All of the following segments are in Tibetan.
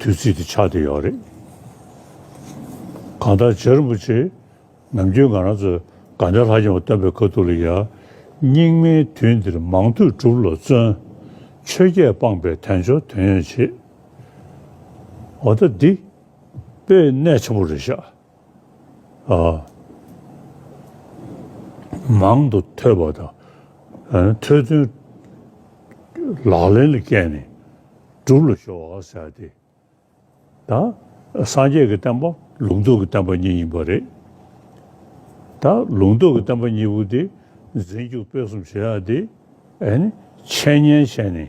དུས་ཚིགས་དེ་ཆགས་བསྡད་ཡོད་རེད། གང་ལྟར་རྗེ་རིན་པོ་ཆེས་ནམ་རྒྱུན་ང་རང་ཚོས་དགའ་ལྡན་ལྷ་རྒྱལ་བ་སྟོན་པའི་དཀའ་སྡུག་ལ་ཡང་སྙིང་མའི་དུས་འདིར་མང་ཐོས་སྒྲུབ་ལ་བརྩོན། ཆོས་བརྒྱད་སྤངས་པའི་དལ་འབྱོར་དོན་ཡོད་བྱེད། འོ་ད་འདི། དཔེ་གནད་ཆེན་པོ་རེད་ཤག། མང་དུ་ཐོས་པ་དང་ཐོས་ཚུལ་ལག་ལེན་ལ་བསྐྱལ་ནས་སྒྲུབ་ལ་གཞོལ་བར་བྱ་སྟེ། ད་སངས་རྒྱས་ཀྱི་བསྟན་པ་ལུང་རྟོགས་ཀྱི་བསྟན་པ་གཉིས་ཡིན་པ་རེད། ད་ལུང་རྟོགས་ཀྱི་བསྟན་པ་གཉིས་པོ་དེ་འཛིན་རྒྱུ་དཔེ་གསུམ་བྱེད་ཡག་སྟེ། འཆད་ཉན་བྱས་ནས།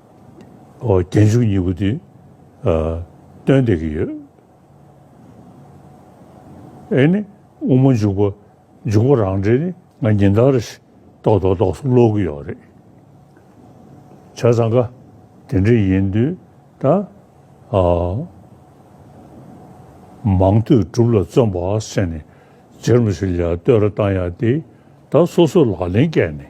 རྒྱན་འཇུག་གཉིས་པོ་དེ་སྟོན་བསྡད་ཀྱི་ཡོད། དབྱེ་ནི་དབུ་མ་འཇུག་པ་འཇུག་པ་རང་འགྲེལ་ནི་ང་ཉིན་ལྟར་རེ་ཞིག་ཏོག་ཏོག་ཏོག་སུ་ཀློག་གི་ཡོད་རེད། བྱས་ཙང་ཀ་དེ་འདྲ་ཡིན་དུས་ད་མང་ཐོས་གྲུབ་ལ་བརྩོན་པ་བྱས་ནས་རྗེར་མི་ཞིག་ལ་བསྟོད་ར་བཏང་ཡག་དེ་ད་སོ་སོས་ལག་ལེན་བཀལ་ནས་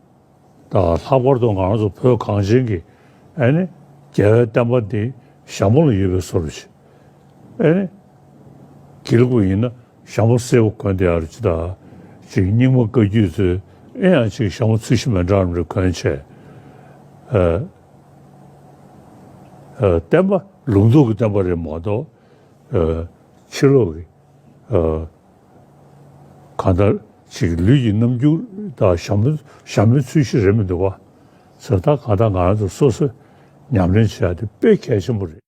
ལྷག་པར་དུ་ང་ཚོ་བོད་གངས་ཅན་གྱི་རྒྱལ་བའི་བསྟན་པ་འདི་ཞྭ་མོ་ལ་ཡོད་པའི་སོར་བཞི། གྱིལ་དགུ་ཡིན་ན་ཞྭ་མོ་སེར་བོ་གོན་དེ་ཨར་ཅི་ད་ཅིག་རྙིང་མ་བཀའ་རྒྱུད་ཚོའི་ཨེ་ཡང་ཅིག་ཞྭ་མོ་ཚུལ་བཞི་མེ་འདྲ་རམ་རེ་གོན་བྱས། བསྟན་པ་ལུགས་མདོག་གི་བསྟན་པ་རེད་མ་གཏོགས་ཕྱི་ལོག་གི། གང་ལྟར་ཕྱིས་ཀྱི་ལུས་ཀྱི་རྣམ་འགྱུར་དག་ཞྭ་མོའི་ཚུལ་བཞིན་རེད་མི་འདུག་བ། ཟེར་ཐག་གང་ལྟར་ང་རང་ཚོ་སོ་སོས་ཉམས་ལེན་བྱེད་ཡག་དེ་དཔེ་གལ་ཆེན་པོ་རེད།